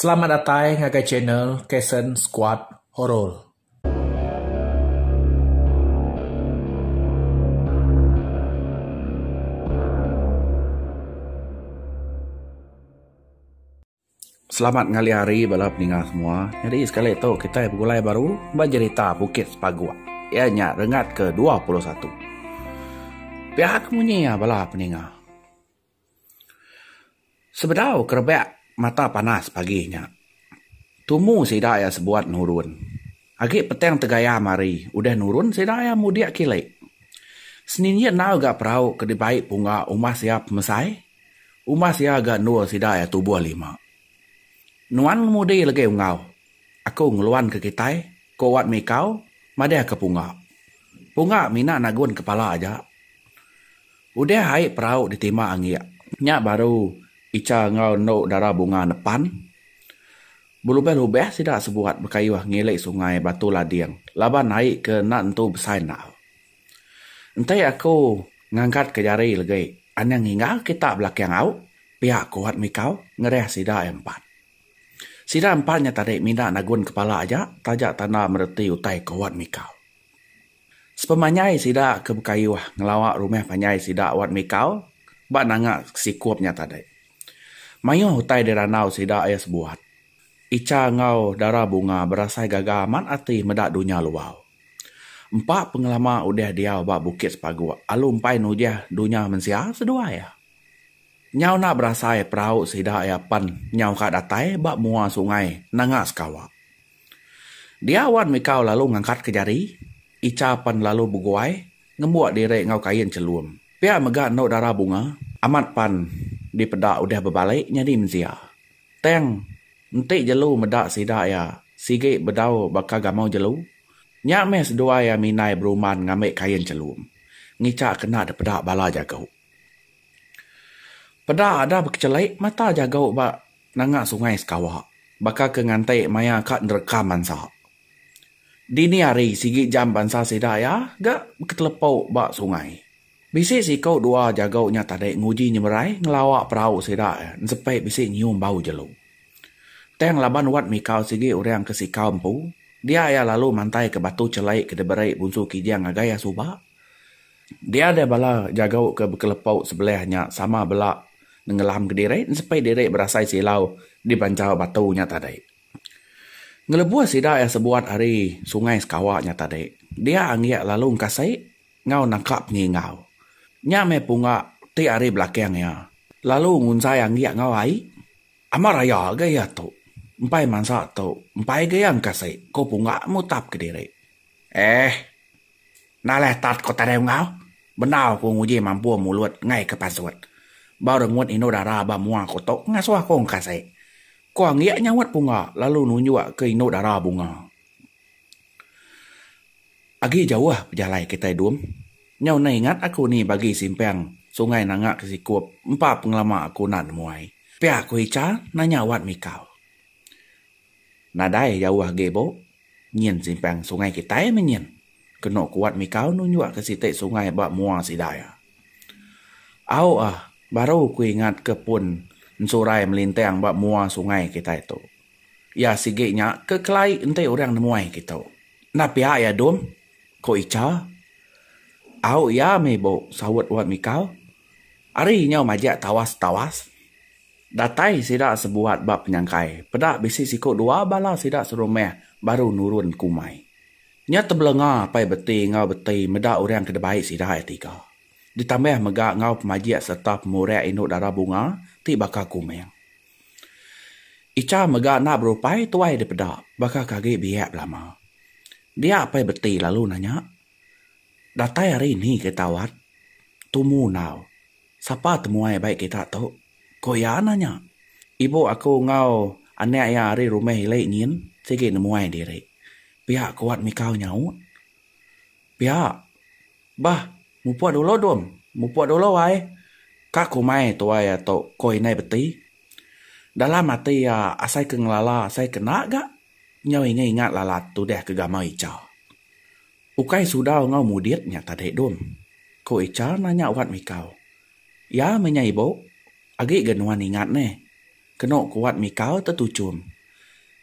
Selamat datai ngagai channel Kasen Squad Horor. Selamat ngali hari bala peninga semua. Nyadi sekali tu kitai begulai baru ba jerita Bukit Sepaguk iya nya rengat ke dua puluh satu. Pia ke munyi iya bala peninga. Sebedau ke rebak mata panas pagi nya, tumu sida iya sebuat nurun. Agi petang tegayam hari, udah nurun sida iya mudik kili. Seninjit enggau ga perau ke dibai pungga umas iya pemesai, umas iya ga endur sida iya tubuh lima. Nuan ngemudi legi enggau aku ngeluan ke kitai, ko Wat Mikau madahka pungga. Pungga mina nagun kepala aja. Udah ai perau ditima anggik. Nya baru Icha enggau endo dara bunga nepan. Belubah-lubah sida sebuat bekayuh ngilik sungai Batu Lading laban ai ke enda entu besai endau. Enti aku ngangkat ke jari legi anang hingga kita belakang au, pia aku at mikau ngerah sida ai empat. Sida empat nya tadi mina nagun kepala aja taja tanda mereti utai ku at mikau. Sepemanjai sida ke bekayuh ngelawa rumah panjai sida wat mikau ba nanga sikup nya tadi. Mayuh utai dirandau sida iya sebuat. Icha enggau dara bunga berasai gaga amat ati meda dunya luar. Empa pengelama udah diau ba Bukit Sepaguk alu empai nujah dunya mensia seduai iya. Nyau enda berasai perau sida iya pan nyau ka datai ba mua sungai nanga sekawa. Dia wan mikau lalu ngangkat ke jari, Icha pan lalu beguai ngembuk diri enggau kain chelum. Pia mega endu dara bunga, amat pan dipeda udah bebalik nyadi mensia. Tang, enti jelu meda sida iya sigi bedau baka gamau jelu, nya meh seduai iya minai beruman ngambi kain chelum, ngicha kena dipeda bala jaku. Peda ada bekechelik mata jago ba nanga sungai sekawa baka ke nganti maya ka nerka mansa. Dini hari sigi jam bansa sida iya ga beketelepau ba sungai. Bisi siko dua jago nya tadi nguji nyemerai ngelawa perau sida ensepi bisi nyium bau jelu. Tang laban wat mikau sigi orang ke sikau empu, dia iya lalu mantaika batu chelik ke diberi Bunsu Kijang ngagai iya suba. Dia deh bala jagau ke bekelepau sebelih nya sama bela nenggelamka diri nesepi diri berasai silau di bancha batu nya tadi. Ngelebuh sida iya sebuat ari sungai sekawa nya tadi, dia anggik lalu engkasi enggau nangka pengingau. Nya meh punga ti ari belakang iya lalu ngunzai anggik enggau ai. Amat raya ga iya tu. Empai mansa tu, empai ga iya engkasi, ku punga mutapka diri. Eeh. Nalai tat ko tadai unggau. Bendar ko nguji mampu mulut enggai ke pasut. Ba rengut indu dara ba mua ko tok ngasuh ko engkasik. Ko anggik nyaut pungga lalu nunjuk ke indu dara bunga. Agi jauh pejalai kitai dum. Nyau enda ingat aku ni bagi simpang sungai nanga ke sikup empa pengelama aku enda nemuai. Pia ko Icha nanya wat mikau. Nadai jauh agi bu, nyin simpang sungai kitai meh nyin. Kenu kuat mikau nunjukka siti sungai ba mua sida iya. Au ah, baru ku ingatka pun ensurai melintang ba mua sungai kitai tu. Iya sigi nya ke kelai enti orang nemuai kitu. Enda pia iya Dum, ku Icha. Au iya meh bu, saut Wat Mikau. Ari nyau majak tawas-tawas. Datai sida sebuat ba penyangkai, peda bisi siku dua bala sida serumah baru nurun ke umai. Nya tebelenga apai beti enggau beti meda orang ke debai sida iya tiga. Ditambah mega enggau pemajik sereta pemurak indu dara bunga ti baka kumang. Icha mega enda berupai tuai dipeda baka ke agi biak belama. Dia apai beti lalu nanya, Datai ari ni ke tau At? Tumu enggau. Sapa temuai bai kita tu? Ku iya nanya. Ibu aku enggau anak iya ari rumah ili nyin sigi nemuai diri. Pia ku Wat Mikau nyaut. Pia. Bah, mupuk dulu Dum. Mupuk dulu ai. Ka kumai tuai iya tu, ku Indai Beti. Dalam ati iya asai ke ngelala asai ke enda ga nyau ingat-ingat lalat tudah ke gamal icha. Ukai sudau enggau mudit nya tadi dun, ku Ichar nanya Wat Mikau. Ya meh nya ibu, agi ga nuan ingat neh, kenu ku Wat Mikau tetuchun.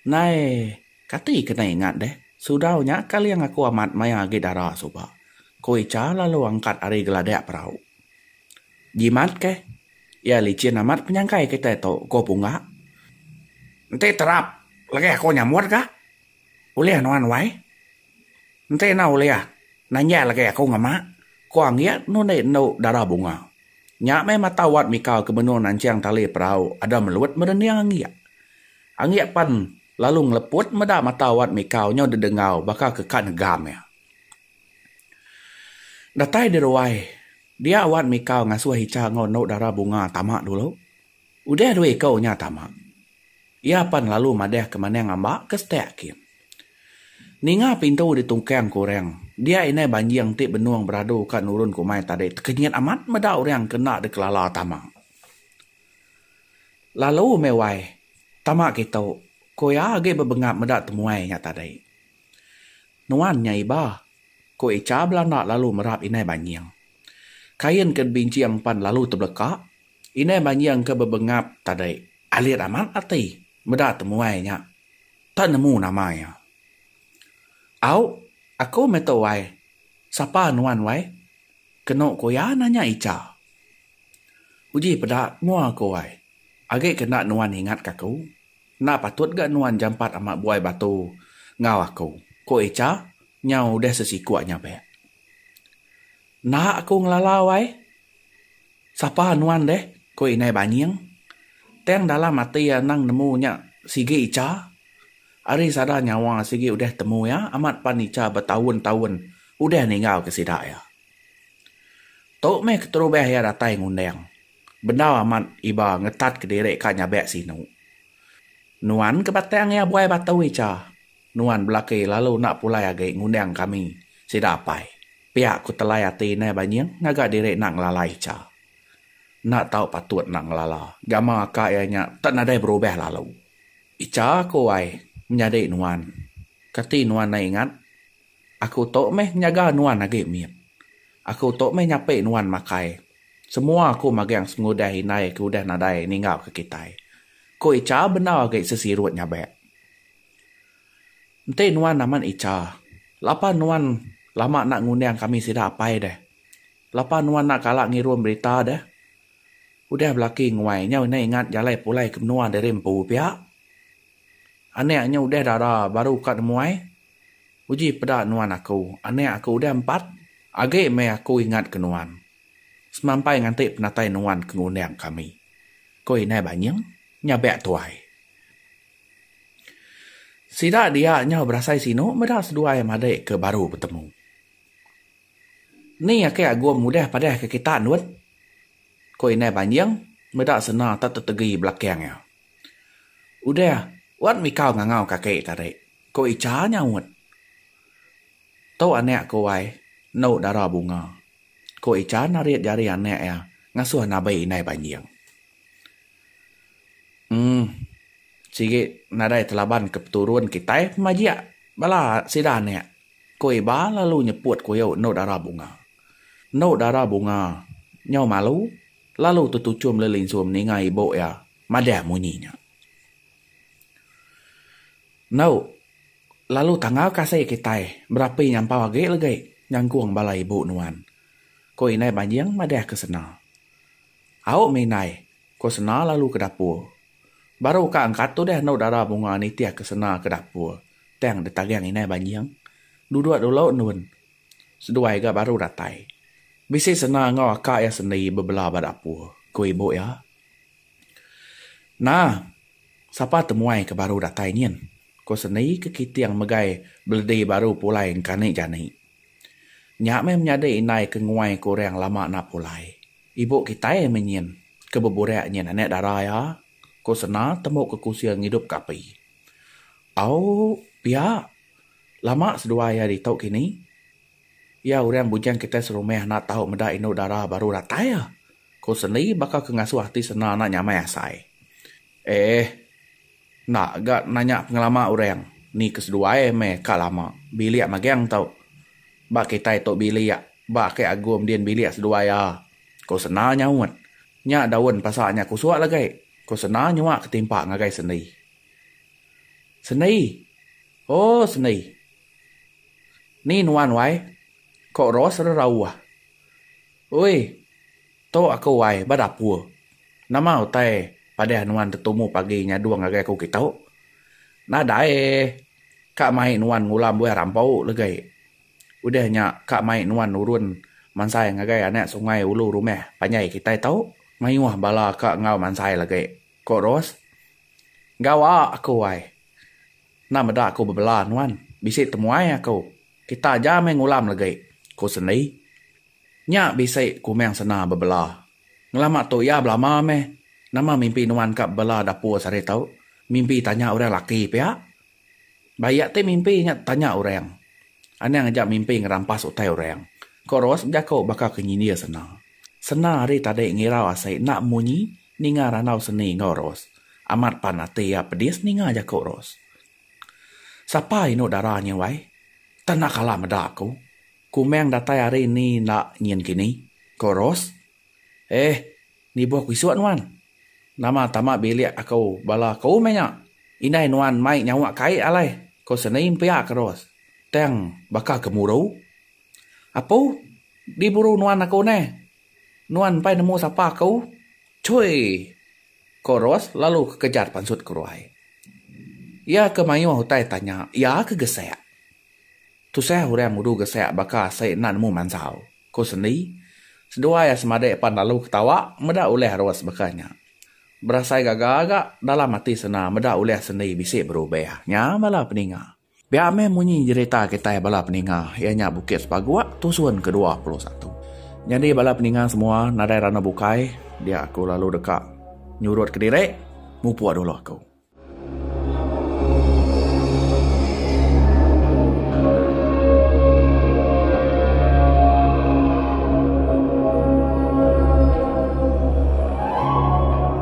Ndai, kati kena ingat deh, sudau nya kaling aku amat maya agi dara suba, ku Ichar lalu angkat ari geladak perau. Jimat keh, iya lichin amat penyangkai kitai tu, ku Punggak. Enti terap lagi aku nyambut ga. Ulih nuan wai. Enti enda ulih, nanjak lagi aku ngema, ku Anggik nundi endu dara bunga. Nya meh mata Wat Mika ke benung nanching tali perau Adam Melut merening Anggik. Anggik pen lalu ngeleput meda mata Wat Mika nyau dedenggau baka ke ka negam iya. Datai di ruai, dia Wat Mika ngasuh Icha enggau endu dara bunga tama dulu. Udah dua iku nya tama, iya pan lalu madah ke manang amba ke setak kin. Ninga pintu ditungkang ke orang, dia indai banjing ti benung beradu ka nurun ke umai tadi tekenyit amat meda orang ke enda dikelala tama. Lalu meh wai, tama kitu, ku iya agi bebengap meda temuai nya tadi. Nuan nya iba, ku Icha belanda lalu merap indai banjing. Kain ke dibinching pan lalu tebeleka. Indai manjing ke bebengap tadi alit amat ati meda temuai nya. Tak nemu nama iya. Au, aku meh tu wai. Sapa nuan wai? Kenu ku iya nanya Icha. Uji peda mua aku wai. Agi ke enda nuan ingatka aku, enda patut ga nuan jampat amat buai batu enggau aku, ku Icha nyau udah sesikup nya pia. Enda aku ngelalau ai. Sapa nuan deh? ku Indai Banying. Tang dalam ati iya endang nemu nya sigi icha. Ari sada nyawa sigi udah temu iya amat pan icha betaun-taun udah ninggalka sida iya. Tu meh keterubah iya datai ngundang. Bendar amat iba ngetatka diri ka nyabak sinu. Nuan ke batang iya buai batu icha. Nuan belaki lalu enda pulai agi ngundang kami sida apai. Pia ku telai ati indai Banying ngaga diri enda ngelala Icha. Enda tau patut enda ngelala gamal aka iya nya tak nadai berubah lalu. Icha aku ai menyadi nuan. Kati nuan enda ingat? Aku tu meh ngejaga nuan agi mit. Aku tu meh nyapi nuan makai. Semua aku magang sengudah indai ke udah nadai ninggauka kitai. Ku Icha bendar agi sesirut nyabak. Enti nuan amat icha, lapa nuan lama enda ngundang kami sida apai deh. Lapa nuan enda kala ngirum berita deh. Udah belaki nguai nyau enda ingat jalai pulai ke menua diri empu pia. Anak nya udah dara baru ka nemuai. Uji peda nuan aku, anak aku udah empat agi meh aku ingat ke nuan. Semampai nganti penatai nuan ke ngundang kami, ku indai Banying nyabak tuai. Sida dia nyau berasai sinu meda seduai madik ke baru betemu. Ni ake Agum udah padah ke kita ndut? ko Indai Banjing meda sena ta tetegi belakang iya. Udah wan mikau ngangau ka ake tadi, ko Icha nyaut. Tu anak ko wai enu dara bunga, ko Icha narit jari anak iya ngasuh nabi Indai Banjing. uhh sigi nadai telaban ke peturun kitai pun majek bala sida anek ku iba lalu nyeput kuyo endo dara bunga. Endo dara bunga nyau malu lalu tetuchum meli linsum ninga ibu iya madah munyi nya. Endo lalu tangau kasih kitai berapi nyampau agi legi nyangkong bala ibu nuan. Ku indai banjing madah ke sena. Au mih indai, ko Sena lalu ke dapur. Baru ka engka tu deh endo dara bunga nitih ke Sena ke dapur tang ditagang indai Banjing. Duduk dulu endun. Seduai ga baru datai. Bisi Sena enggau aka iya sendi bebela ba dapur, ko ibu iya. Nah, sapa temuai ke baru datai nyin? ko sendi ke kiting megai beledi baru pulai engkani jani. Nya mih menyadi indai ke nguai ko orang lama enda pulai. Ibu kitai meh nyin ke beburak nyin anak dara iya, ku Sena temu ke kusil ngidup ke api. Au, pia. Lama seduai iya ditu kini. Iya orang bujang kitai serumah enda tau meda indu dara baru datai, ku Sendi baka ke ngasuh ati Sena enda nyamai asai. Eh. Enda ga nanya pengelama orang ni ke seduai meh ka lama bilik magang tu. Ba kitai tu bilik ba ake Agum din bilik seduai a, ku Sena nyaut. Nya daun pasak nya kusuk lagi, ku Sena nyuak ke timpa ngagai Sendi. Sendi! Oh Sendi! Ni nuan wai? Ko Ros rerauh. Ui! Tu aku wai ba dapur. Nama utai padah nuan tetumu pagi nyadung ngagai aku kitu? Nadai eh. Ka mai nuan ngulam buah rampu legai. Udah nya ka mai nuan nurun mansai ngagai anak sungai ulu rumah panjai kitai tu. Mayuh bala ka enggau mansai lagi, ku Ros. Gawa aku wai. Enda meda aku bebela nuan. Bisi temuai aku. Kita aja meh ngulam legi, ku sendi. Nya bisi Kumang Sena bebela. Ngelama tu iya belama meh. Nama mimpi nuan ka bebela dapur sehari tu? Mimpi tanya orang laki pia? Ba iya ti mimpi nya tanya orang. Anang aja mimpi ngerampas utai orang, ko Ros bejaku baka ke nyindir Sena. Sena hari tadi ngirau asi enda munyi. Ninga randau seni enggau Ros. Amat pan ati iya pedis ninga jaku Ros. Sapa indu dara nya wai? Tak enda kala meda aku. Kumang datai hari ni enda nyin kini, ko Ros. Eh, nibuh ku isuk nuan. Nama tama bilik aku bala aku meh nya. Indai nuan mai nyawa kai alai, ko Seni mpiak Ros tang baka gemuru. Apu, di buru nuan aku neh. Nuan mpai nemu sapa aku, Chui! ko Ros lalu ke kejar pansut ke ruai. Iya ke mayuh utai tanya iya ke gesek. Tusah orang udu gesek baka asai enda nemu mansau, ko Sendi. Seduai iya semadik pan lalu ketawa meda ulih Ros baka nya. Berasai gaga ga dalam ati Sena meda ulih Sendi bisi berubah nya bala peninga. Pia meh munyi jerita kitai bala peninga iya nya Bukit Sepaguk tusun ke dua puluh satu. Nyadi bala peninga semua nadai randau bukai dia aku lalu deka nyurut kediri mupuk dulu aku.